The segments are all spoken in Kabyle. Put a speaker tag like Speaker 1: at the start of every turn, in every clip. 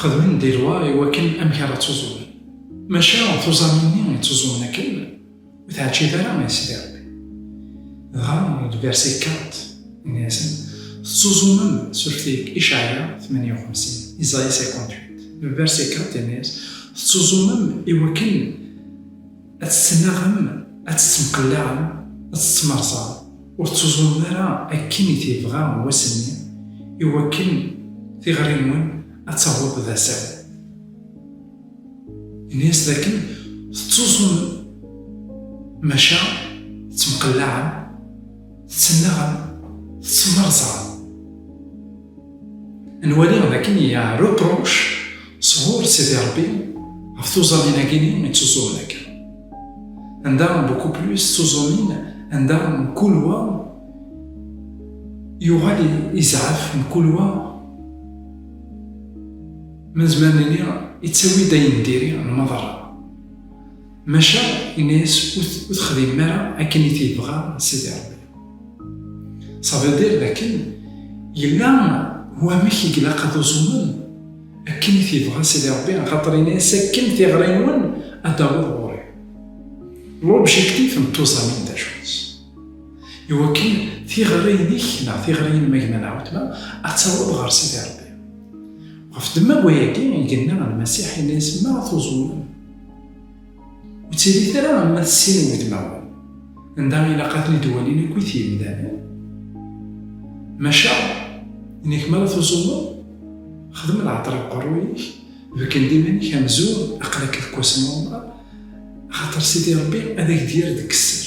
Speaker 1: Xedmen di lwa i wakken amek ara ttuẓumen. Maca tuẓamin-nni i ttuẓumen akken ur teɛǧib ara i Sidi Rebbi. Dɣa deg verset 4, inna-yasen, Tettuẓumem s urtig Icɛaya tmanya u xemsin, Isaïe 58. Deg verset 4, inna-yas, Tettuẓumem i wakken. ad tettnaɣem, ad tettemqellaɛem, ad tettemrẓam, ur tettuẓumem ara akken i t-yebɣa wass-nni, i wakken tiɣri-nwen ad taweḍ d assawen. Ini-as d akken tettuẓumem, maca tettemqellaɛem, tettennaɣem, tettemrẓam. Nwali dakken yya reproche sɣur Sidi Rebbi ɣef tuẓamin-agi-nni i ttuẓumen akka. Anda beaucoup plus tuẓumin anda mkul wa yuɣal izɛaf mkul wa ma nezmer nini yettawi-d ayen diri n maḍerra. Maca yenna-as ur texdimem ara akken i t-yebɣa Sidi Rebbi. Ça veut dire dakken yella wamek i ilaq ad uẓumen akken i t-ibɣa Sidi Ṛebbi axaṭer ini-as akken tiɣri-nwen ad d-taweḍ ɣur-i. L'objectif n tuẓamin d acu-tt? Iwakken tiɣri-inek neɣ tiɣri-inem a gma neɣ weltma ad taweḍ ɣer Sidi Ṛebbi. Ɣef ddemma n wayagi i yenna Lmasiḥ, yenna-yas, Ma tuẓumem, Ur ttili ara am ma tessinem udmawen, anda ilaq ad ten-id-walin akkit yimdanen. Maca, inek mi ara tuẓumeḍ, xdem lɛeṭṭer deg uqerruy-ik, bekken-d iman-ik amzun aql-ak deg wass n uɛemṛa, axaṭer Sidi Ṛebbi ad ak-d-yerr deg sser,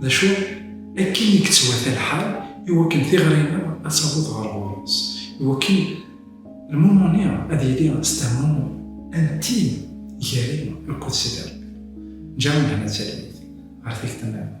Speaker 1: D acu akken i yettwata lḥal i wakken tiɣri-nneɣ ad taweḍ ɣer ɣur-s, i wakken lmumuni ad yili s tehmumi antin gar-i akked Sidi Rebbi? Ǧǧa lehna d talwit ɣer tikta-nniḍen.